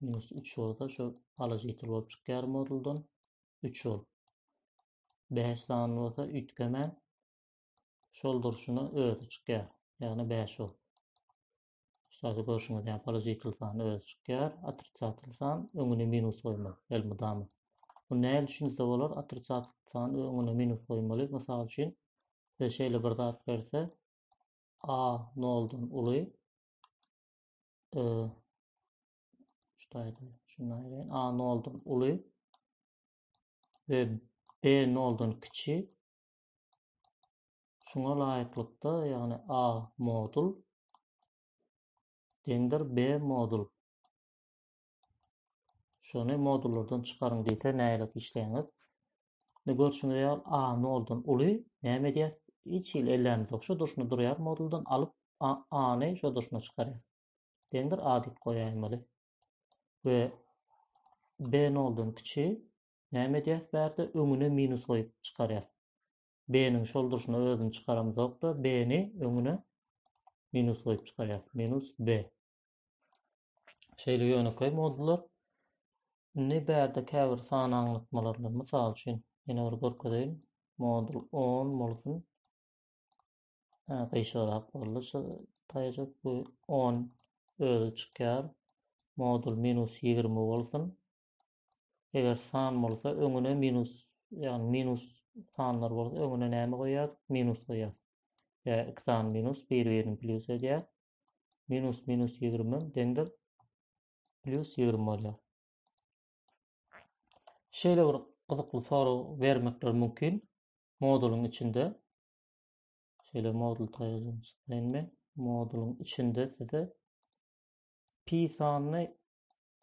minus üç bolsa şu alyş ýitir bolup çykýar moduldan üç bolup bäş sany bolsa üýtgemän şol durşuna özi çykýar ýagny bäş bolup Şurada görüşüňiz ýaly alyş ýitir sany özi çykýar otrisatel san öňüne minus goýmak elmydama bu näme düşünse bolar otrisatel san öňüne minus goýmaly mysal üçin size şeýle bir zat berse a noldan uly e, şuýdy, şuýdy, a noldan uly ve b noldan kiçi. Şuna laýyklykda, ýagny a modul deňdir b modul. Şuny modullardan çykaryň diýse näle işleýäňiz? Ne görşüňiz ýa A noldan uly näme edýär? Hiç hil ellämiz ýok. Şu durşuna durýar moduldan alyp A-ny şu durşuna çykarýar. Deňdir A diýip goýaýmaly. Ve B noldan kiçi näme edýär bärde öňüne minus goýup çykarýar. B-niň şol durşuna özüni çykaramyz ýokda B-ni öňüne minus goýup çykarýar. Minus B. Şeýle ýönekeý modular indi bärde käbir san aňlatmalar bilen, mysal üçin, ýene bir görkezeýin. Modul 10 bolsun. Hä, gyşarak boldy. Şu taýjak bu 10 özi çykýar. Modul minus 20 bolsun. Eger san bolsa öňüne minus, ýagny minus sanlar bolsa öňüne näme goýýar? Minus goýýar. Ýa iki san minus, bir-birini plyus edýär. minus minus ýigrimi deňdir plyus ýigrimi bolýar. Şeýle bir gyzykly sorag bermekler mümkin modulyň içinde. Şeýle modul taýýarlanmaly. Modulyň içinde size pi sanyny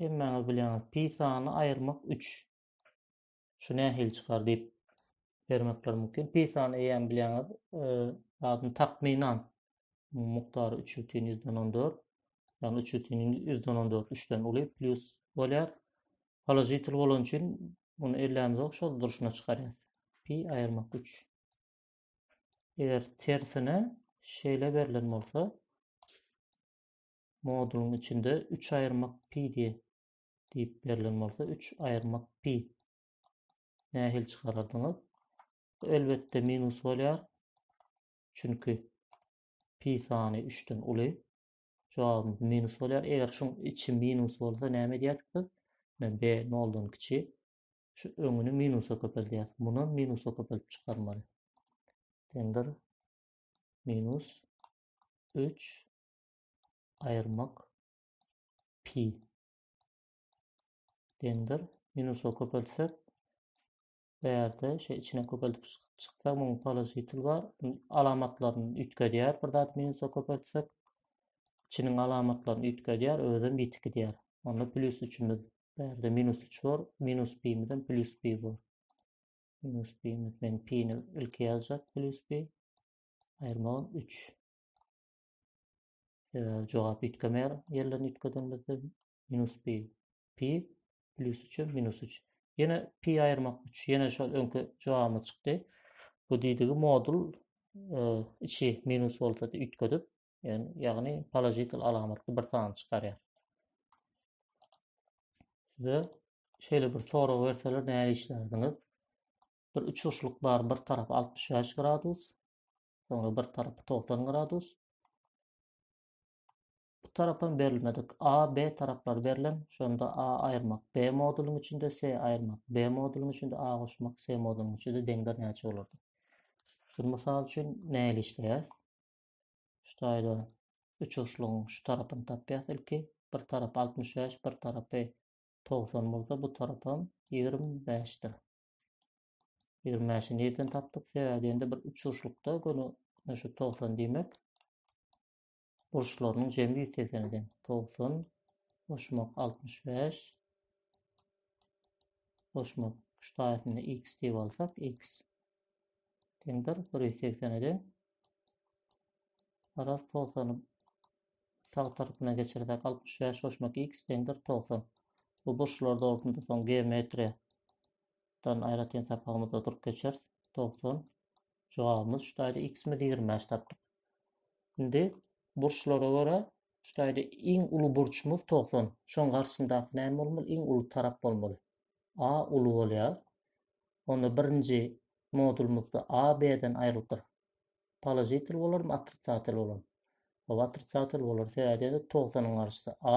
hemmäňiz bilýäňiz. Pi sanyny aýyrmak 3. şu nähili çykar diýip bermekler mümkin. Pisany eýýäm bilýäňiz, zadyny e, takmynan mukdary 3,14, ýagny 3,14 3-den uly plus bolýar. Položitel bolan üçin muny ellämiz ok şol durşuna çykarýas. Pi aýyrmak 3. Eger tersine şeýle berlen bolsa, modulun içinde 3 ayırmak pi diye diýip berlen bolsa, üç aýyrmak pi nähili çykarardyňyz? Bu elbetde minus bolýar. Çünki pi sany 3-den uly. Jogabymyz minus bolýar. Eger şuň içi minus bolsa näme edýärdik biz? Ine b noldan kiçi. Şu öňüni minusa köpeldýäris. Muny minusa köpelip çykarmaly. Deňdir minus 3 aýyrmak pi deňdir. Minusa köpeltsek bärde şu içine köpeltip çyksak muň položitil bar. Alamatlaryny üýtgedýär bir zat minusa köpeltsek. Çiniň alamatlaryny üýtgedýär, özem ýetik edýär. Onda plus üçimiz bärde minus 3 bar, minus pimizem plus pi bar. Minus pimiz men pini ilki ýazjak plus pi. Aýyrmagam 3. jogap üýtgemeýär ýerlerini üýtgedenimizde minus pi pi plyus üçe minus üç ýene pi aýyrmak üç ýene şol öňki jogabymyz çykdy bu diýdigi modul e, içi minus bolsa da üýtgedip ýagny položitel alamatly bir sany çykarýar size şeýle bir sorag berseler näme işlerdiniz bir üçurşlyk bar bir tarap 65 gradus Soňra bir tarapy 90 gradus. Bu tarapam berilmedik. A, B taraplar berlen. Şonda A aýyrmak B modulyň içinde, C aýyrmak B modulyň içinde, A goşmak C modulyň içinde deňler näçe bolardy? Şu mysal üçin näli işleýär? Şu taýda üç uçlugyň şu tarapyny tapýas ilki. Bir tarap 65, bir tarapy 90 bolsa, bu tarapam 25-dir. Ýigrimi bäşi nirden tapdyk? Sebäbi diýende bir uçuşlukda göni şu togsan diýmek burçlarynyň jemi ýüz segsen eken. Togsan goşmak altmyş bäş goşmak şu taýsyny x diýip alsak x deňdir bir ýüz segsen eden. Garaz togsany sag tarapyna geçirsek altmyş bäş goşmak x deňdir togsan. Bu burçlar dogusynda soň geometriýa dan aýratyn sapagymyzda durup geçeris. Togsan. Jogabymyz şu taýda x-imiz 25 tapdyk. Indi burçlara görä şu taýda iň uly burçumyz 90. Şoň garşysyndaky näme bolmaly? Iň uly tarap bolmaly. A uly bolýar. Onda birinji modulymyzda A B-den aýrylypdyr. Položitel bolarmy, otrisatel bolarmy? Oba otrisatel bolar. Sebäbi 90-yň garşysy A,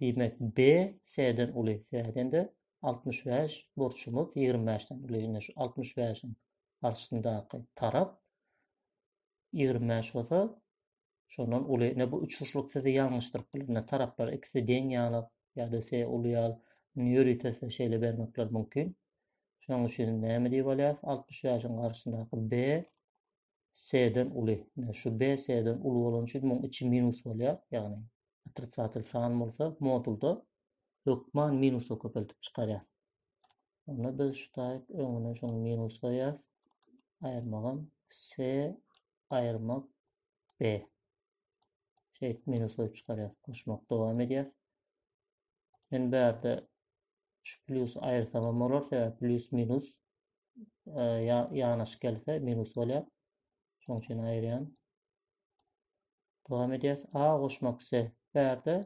Diýmek, B, S-den uly. S-den de altmyş bäş, burçumyz ýigrimi bäşden uly. Indi şu altmyş bäşiň garşysyndaky tarap ýigrimi bäş bolsa, şondan uly. Ine, bu üçburçluk sizi ýalňyşdyryp biler. Ine, taraplar ikisi deň ýaly ýa-da S uly ýaly. Indi ýöritesine şeýle bermekler mümkin. Şonuň üçin näme diýip alýarys? Altmyş bäşiň garşysyndaky B S-den uly. Ine şu B S-den uly bolany üçin muň içi minus bolýar. Ýagny otrisatel san bolsa modulda hökman minusa köpeltip çykarýas. Onda biz şu taýyk öňüne şuny minus goýýas. Aýyrmagam S aýyrmak B. Şeýdip minus goýup çykarýas. Goşmak dowam edýär. Men bärde şu plýus aýyrsamam bolar, sebäbi plýus minus e, ýanaşyk gelse minus bolýar. Şoň üçin aýyrýan. Dowam edýäs. A goşmak S. Bärde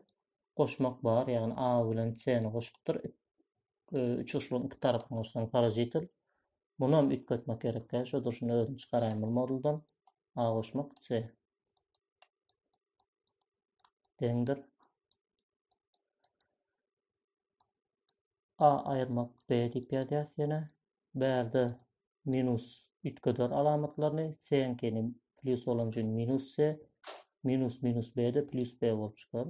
goşmak bar, ýagny A bilen C-ni goşupdyr. E, üç uçuryň iki tarapyny goşsaň parazitel. Muny hem üýtgetmek gerek. Şu durşuna özüni çykaraýyn bu moduldan. A goşmak C. deňdir. A ayırmak B dip yazýas ýene. Bärde minus üýtgeder alamatlaryny, seňkini plus bolan üçin minus C, minus minus B de plus B bolup çykar.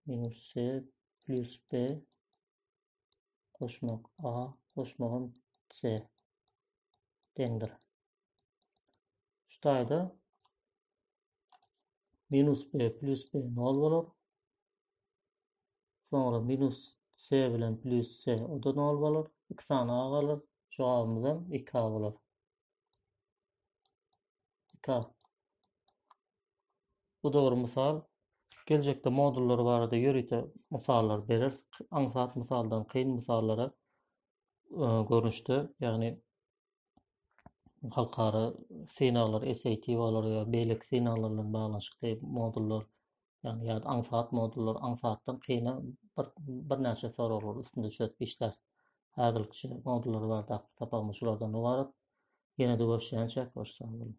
Minus C plus B koşmak A, koşmagam C deňdir. Şu taýda minus b plus b nol bolar. Sonra minus s bilen plus s o da nol bolar. 2 sany a galar. Jogabymyz hem 2 a bolar. 2 a. Bu dogry misal. Geljekde modullar barada ýörite misallar bereris. Aňsat misaldan kyn misallara e, görnüşde, ýagny halkara synaglar, SAT-lar we beýleki synaglar bilen baglanyşykly modullar, ýagny ýa aňsat modullar, aňsatdan kyna bir birnäçe soraglar üstünde çözüp işlär. Häzirlikçe modullar bardaky sapagymyz şulardan ybarat. Ýene-de görüşýänçäk, hoş sag boluň.